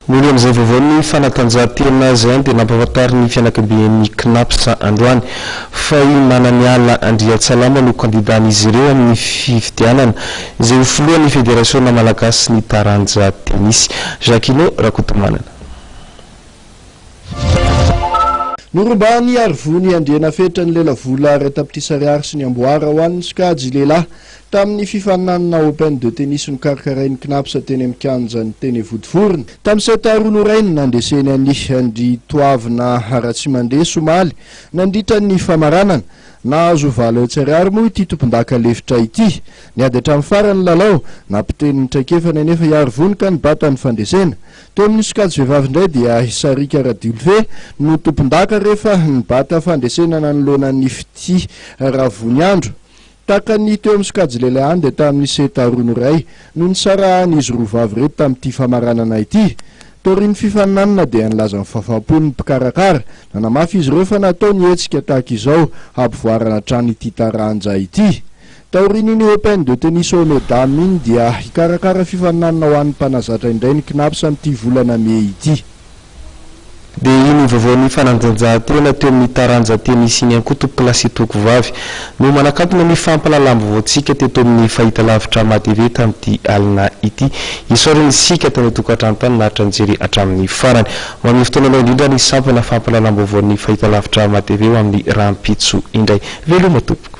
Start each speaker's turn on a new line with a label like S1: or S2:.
S1: Nony amin'izay vaovao ny fanatanjahantena azy any dia nampahafantarin'ny fianakabian'ny Cnaps androany fa i Mananiala Andriantsalama no kandidàn'izy ireo amin'ny fifidianana izay ho filohan'ny Federasiona malagasin'ny taranja tenisy. Jacquino Rakotomanana.
S2: Norombahan'i Harivony Andrianafetra ny lelavola iray tapitrisa ariary sy ny amboara ho an'ny sokajy lehilahy Tamin'ny fifaninanana Open de Tennis nokarakarain'ny Cnaps teny amin'ny kianjan'ny Tene Vodivorona. Tamin'ny set roa norainy, nandreseny an'i Andritoavina Ratsimandresy omaly, nandritra ny famaranana. Nahazo valo hetsy ariary moa ity tompondaka lefitra ity. Niady hatramin'ny farany ny lalao. Nampitenin'ny traikefany anefa i Arivony ka nibata ny fandresena. Teo amin'ny sokajy vehivavy indray dia i Sarika Radiolve no tompondaka rehefa nibata fandresena nanoloana an'i Fitia Ravoniandro. Tahaka ny teo amin'ny sokajy lehilahy ihany dia tamin'ny seta roa noray no nisarahan'izy roa vavy ireto tamin'ity famaranana ity. Taorian'ny fifaninanana dia nilaza ny fahafampony ny mpikarakara. Nanamafy izy ireo fa natao ny hetsika tahaka izao hampivoarana hatrany ity taranja ity. Taorian'iny Open de Tennis Homme et Dame iny dia hikarakara fifaninanana ho an'ny mpanazatra indray ny Cnaps amin'ity volana mey ity.
S1: Dia iny ny vaovaon'ny fanandanjahantena teo amin'ny taranja tenisy iny ihany koa tompoko lahy sy tompoko vavy no manakantona ny fampahalalam-baovaontsika teto amin'ny fahitalavitra mahatv tamin'ity alina ity. Isaorana isika tany an-tokantrano tany naharitra nijery hatramin'ny farany. Manome fotoana anao indrindra ny sampana fampahalalam-baovaon'ny fahitalavitra mahatv ho amin'ny rahampitso indray. Veloma tompoko.